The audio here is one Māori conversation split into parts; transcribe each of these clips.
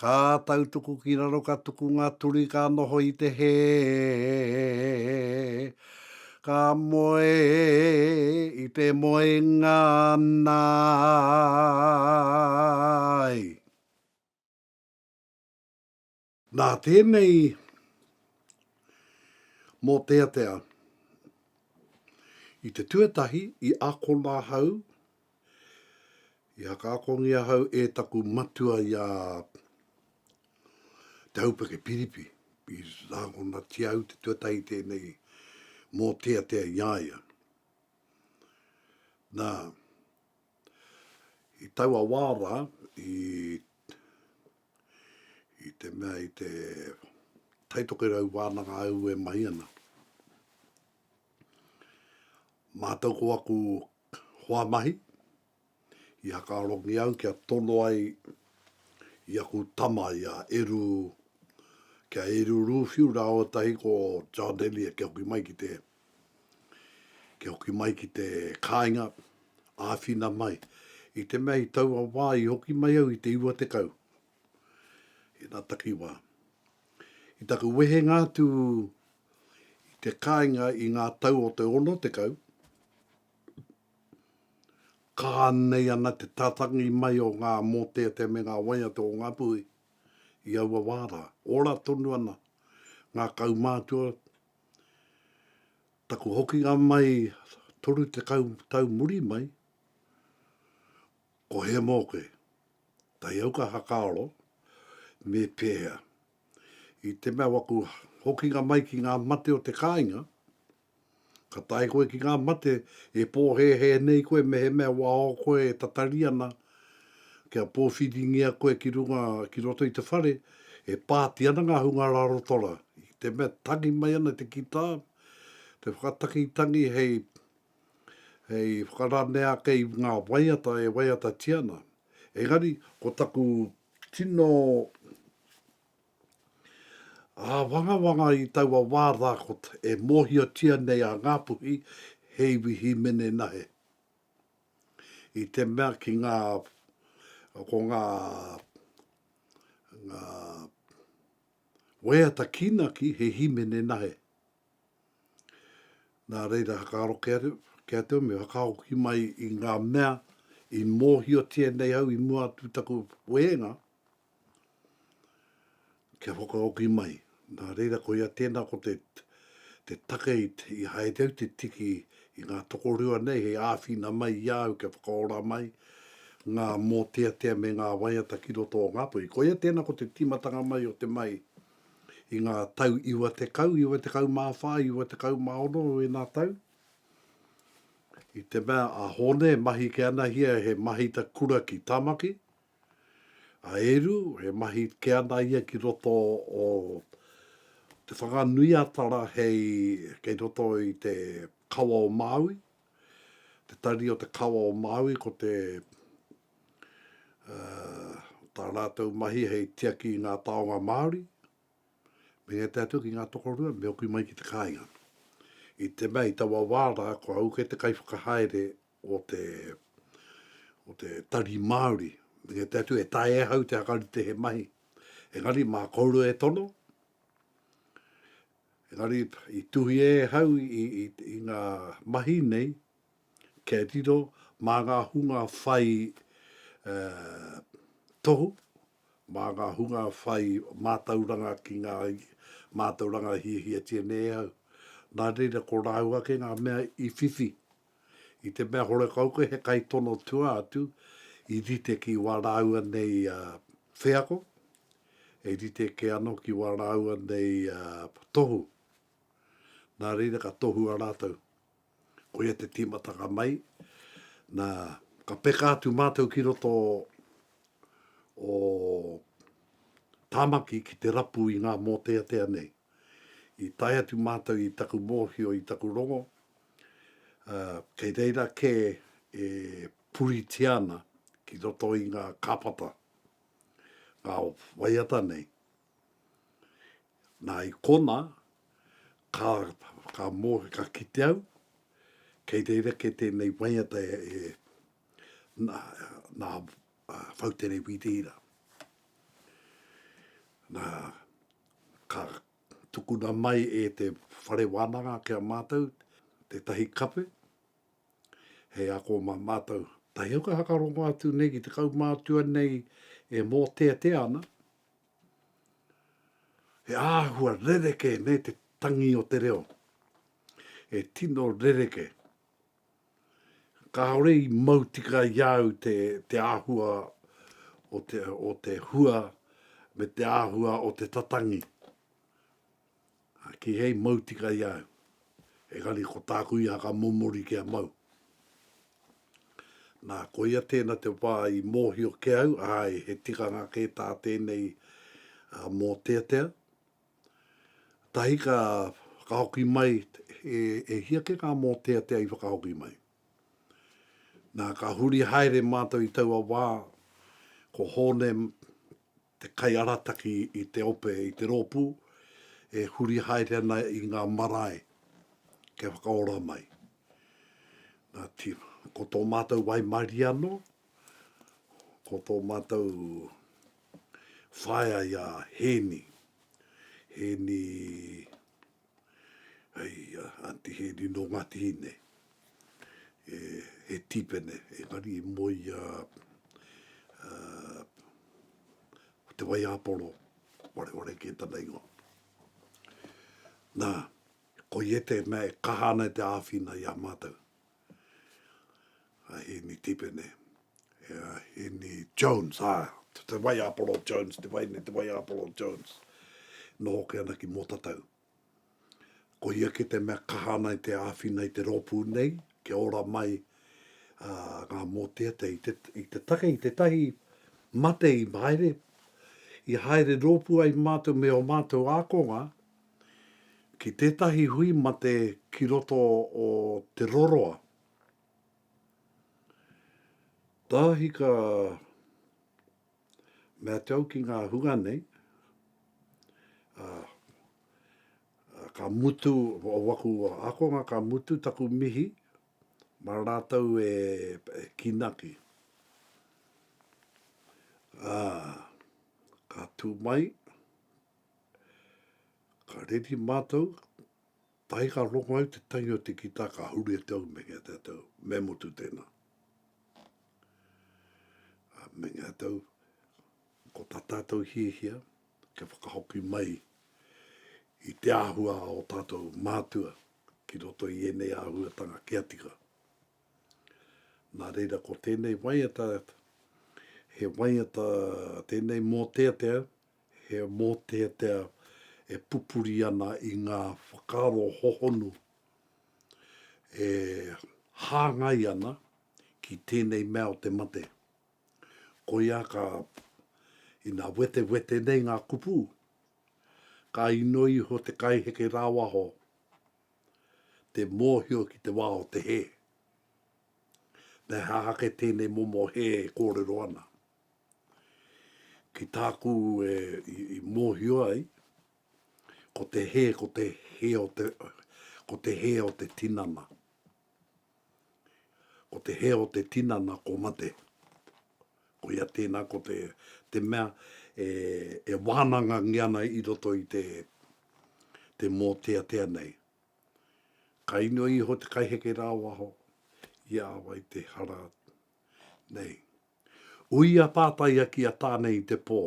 Ka tautuku ki raro ka tuku nga turi ka noho i te he Ka moe i te moenga nai. Nā tēnei mōteatea i te tuatahi i akona ahau I hakaakoni ahau e taku matua i a Te Aupeke Piripi, i rāngonatia au te tuatahi tēnei mōteatea i a ia. Nā, i taua wā rā, i, i te mea, i te taitokerau wānanga au e mahi ana, mātau ko aku hoa mahi, i hakarongi au kia tono ai i aku tama i a Eru, ki a Eru Ruwhiu rāua tahi ko John Elliot kia hoki mai ki te, kia hoki mai ki te kāinga, āwhina mai. I te mea i taua wā i hoki mai au i te iwa tekau, i ngā takiwā. I taku wehenga atu i te kāinga i ngā tau o te ono tekau, ka anei ana te tatangi mai o ngā mōteatea me ngā waiata o ngā puhi i aua wā rā. Ora tonu ana ngā kaumātua, taku hokinga mai 30 tau muri mai, ko He Moke. Kai au ka whakaaro, me pēhea? I te mea waku hokinga mai ki ngā mate o te kāinga, ka tae koe ki ngā mate e pōhēhē nei koe mehemea wao koe e tatari ana kia pōwhiringia koe ki runga, ki roto i te whare, e pāti ana ngā hunga rarotora. I te mea tangi mai ana te kitā, te whakataki tangi hei hei whakaranea ake i ngā waiata e waiatatia ana. Engari, ko taku tino āwangawanga i taua wā rā ko e mōhiotia nei a Ngāpuhi he iwi hīmene nahe. I te mea ki ngā, ko ngā, ngā waiata kīnaki he hīmene nahe. Nā reira, whakaaro kea te ume, whakahoki mai i ngā mea i mōhiotia nei au i mua atu i taku wehenga, kia whakahoki mai. Nā reira, koia tēnā ko te te take i haere au te tiki i ngā tokorua nei hei āwhina mai i a au kia whakaora mai ngā mōteatea me ngā waiata ki roto o Ngāpuhi. Koia tēnā ko te tīmatanga mai o te mahi. i ngā tau iwa tekau, iwa tekau mā whā, iwa tekau mā ono o ēnā tau, i te mea a Hōne e mahi ke anahia he mahita kura ki Tamaki, a Eru e mahi ke ana ia ki roto o Te Whanganui-a-Tara hei kei roto i te kawa o Māui, te tari o te kawa o Māui ko te tā rātou mahi hei tiaki i ngā taonga Māori, me ngā te atu ki ngā tokorua, me oku mai ki te kāinga. I te mea, i taua wā rā, ko au kei te kaiwhakahaere o te, o te tari Māori, me ngā te atu e tae e hau te hakarite he mahi. Engari, mā kouru e tono, engari, i tuhia e hau i, i, i ngā mahi nei, Kia riro mā ngā hunga whai tohu, mā ngā hunga whai mātauranga ki ngā mātauranga e hiahiatia nei e au. Nā reira, ko rāua ake ngā mea i whiwhi. I te mea horekau koe he kaitono tua atu i rite ki wā rāua nei wheako, e rite ake anō ki wā rāua nei tohu. Nā reira, ka tohua rātou. Ko ia te tīmatanga mai, nā, ka peka atu mātou ki roto o Tāmaki ki te rapu i ngā mōteatea nei. I tae atu mātou i taku mōhio, i taku rongo, kei reira kē e puritia ana ki roto i ngā kāpata, ngā waiata nei, Nā, i konā, ka, ka mō, ka kite au, kei rerekē tēnei waiata e, e, nā, nā Whautere Wiriira. Nā, ka tukuna mai e te whare wānanga ki a mātou tētahi kape, hei ako mā mātou. Tahi au ka whakarongo atu nei ki te kaumātua nei e mōteatea ana, He āhua rerekē nei te tangi o te reo. He tino rerekē. Kāore i mau tika i a au te, te āhua o te, o te hua me te āhua o te tatangi. Ā, kīhai mau tika i a au, engari ko tāku ia ka momori kia mau. Nā, koia tēnā te wā i mōhio ki au, āe, he tikanga kē tā tēnei mōteatea. Tahi ka whakahoki mai, e, e hia kē ngā mōteatea i whakahoki mai? Nā, ka huri haere mātou i taua wā, ko Hōne te kaiarataki i te ope i te rōpū e huri haere ana i ngā marae kia whakaora mai. Nā, ti, ko tō mātou waimarie anō, ko tō mātou whaea i a Hēni, Hēni Hei a Aunty Hēni nō Ngāti Hine, e, he tīpene, engari i moe i a, a, Te Waiāporo, Wareware kē tana ingoa. Nā, ko ia tēnā e kaha ana e te āwhina i a mātou. a Hēni Tipene, e a Hēni Jones, ā, te Waiāporo Jones, te wai nei, te Waiāporo Jones, noho ake ana ki Mōtatau. Ko ia kē te mea kaha ana i te āwhina i te rōpū nei, kia ora mai ngā mōteatea i te, i te take, i te tahi mate i haere, i haere rōpū ai mātou me ō mātou ākonga, ki tētahi hui mate ki roto o Te Roroa. Tāhi ka mea te au ki ngā hunga nei, ka mutu o waku akonga, ka mutu taku mihi ma rātou e ki naki. Ka tū mai, Ka reri mātou, tae ka rongo ai te tangi o te kitā ka huri e te au me ngā tātou, me mutu tēnā. A me ngā tātou, ko tā tātou hiahia, kia whakahoki mai i te āhua o tātou mātua ki roto i ēnei āhuatanga kia tika. Nā reira ko tēnei waiata, he waiata tēnei mōteatea, He mōteatea e pupuri ana i ngā whakaaro hohonu e hāngai ana ki tēnei mea o te mate. Koia ka, ina wetewete nei ngā kupu, ka inoi iho te kaiheke rāwaho te mōhio ki te wā o te hē. Me aha ake tēnei momo hē e kōrero ana? Ki tāku e i mōhio ai, ko te hē, ko te hē o te, ko te hē o te tinana. Ko te hē o te tinana ko mate. Ko ia tēnā, ko te, te mea e, e wānangangia ana i roto i te, te mōteatea nei. Ka inoi iho te kaiheke rāwaho i a wai te hara nei. Ui a Tātaia ki a Tāne i te pō.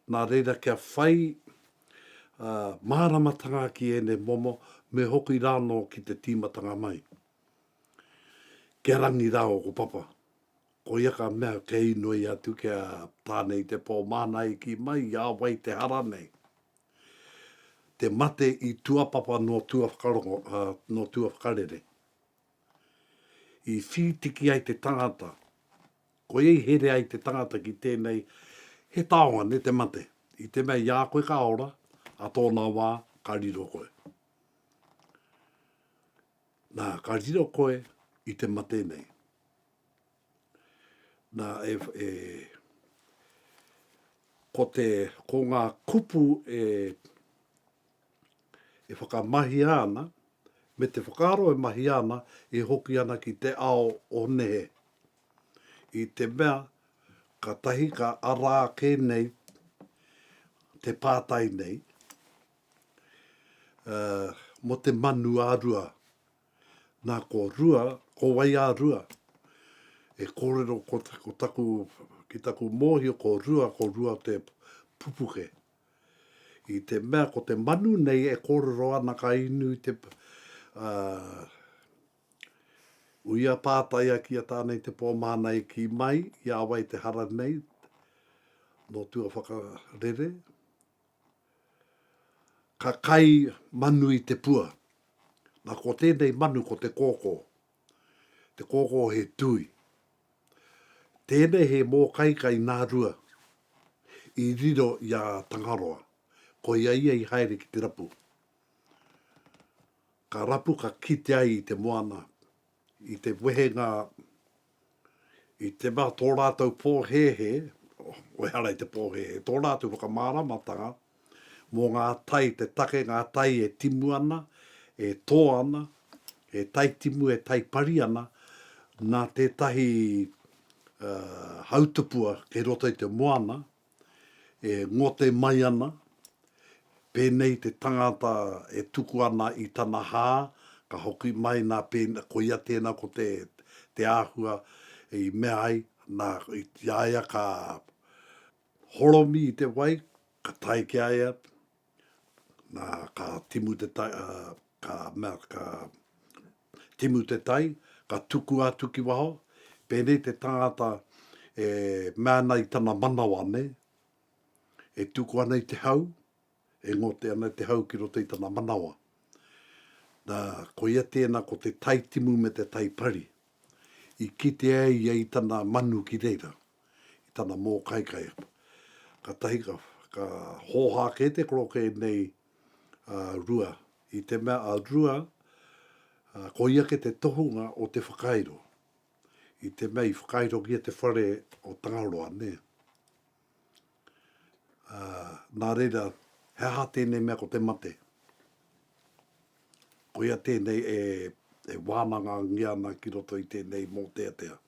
Nā reira kia whai māramatanga ki ēnei momo me hoki rānō ki te tīmatanga mai. Kia rangi rā ōku papa. Koia ka mea kia inoi atu ki a Tāne i te pō māna i kī mai i a wai te hara nei. Te mate i tuapapa nō tua whakarongo, nō tua whakarere. I whītiki ai te tangata, koia i here ai te tangata ki tēnei, he taonga ne te mate, i te mea i a koe ka ora, a tōna wā, ka riro koe. Na, ka riro koe i te mate nei. Nā, e, e, ko te, ko ngā kupu e, e whakamahia ana, me te whakaaro e mahia ana, e hoki ana ki te ao o nehe. I te mea, ka tahi ka ara ake nei te pātai nei, ā, mō te manu ā-rua. Na ko Rua, ko Waiarua, e korero ko taku, ki taku mohio ko Rua, ko Rua te pupuke. I te mea ko te manu nei e korero ana ka inu te, uh, uia pātaia ki a tāna i te pō māna i ki mai, i a wai te hara nei, no tua whakarere, Ka kai manu i te pua. Na ko tenei manu ko te koko. Te koko he tui. Tenei he mokaika i Narua i riro i a Tangaroa. Ko ia ia i haere ki te rapu. Ka rapu ka kite ai i te moana i te wehenga I te mea tō rātou pōhēhē, wehara i te pōhēhē, tō rātou whakamāramatanga mō ngā tai, te take ngā tai e timu ana, e tō ana, e taitimu, e taipari ana, nā tētahi hautupua kei roto i te moana, e ngote mai ana, pēnei te tangata e tuku ana i tana hā, ka hoki mai nā, koia tēnā ko te, te āhua i mea ai, nā, i a ia ka horomi i te wai, ka tae ki a ia, nā, ka timu te, ka mea, ka timu te tai, ka tukua atu ki waho, pēnei te tangata e mea ana i tana manawa nei, e tuku ana i te hau, e ngote ana i te hau ki roto i tana manawa. Na, koia tēna ko te tai timu me te tai pari. I kitea e ia i tana manu ki reira, i tana mōkaikai. Katahi ka, ka hōhā kē te koroke nei ā Rua, i te mea a Rua, ā, ko ia ke te tohunga o te whakairo, i te mea i whakairogia te whare o Tangaroa, nē. Ā, nā reira, he aha tēnei mea ko te mate? Koia tēnei e, e wānangangia ana ki roto i tēnei mōteatea.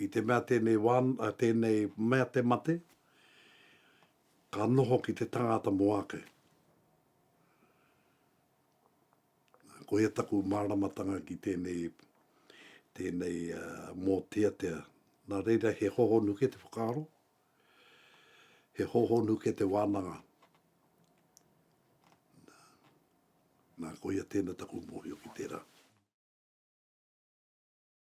I te mea tēnei wān, ā, tēnei mea te mate, Ka noho ki te tangata mo ake. Koia taku maramatanga ki tenei, tenei moteatea. Na reira he hohonu ke te whakaaro, he hohonu ke te wananga. Na koia tena taku mohio ki tera.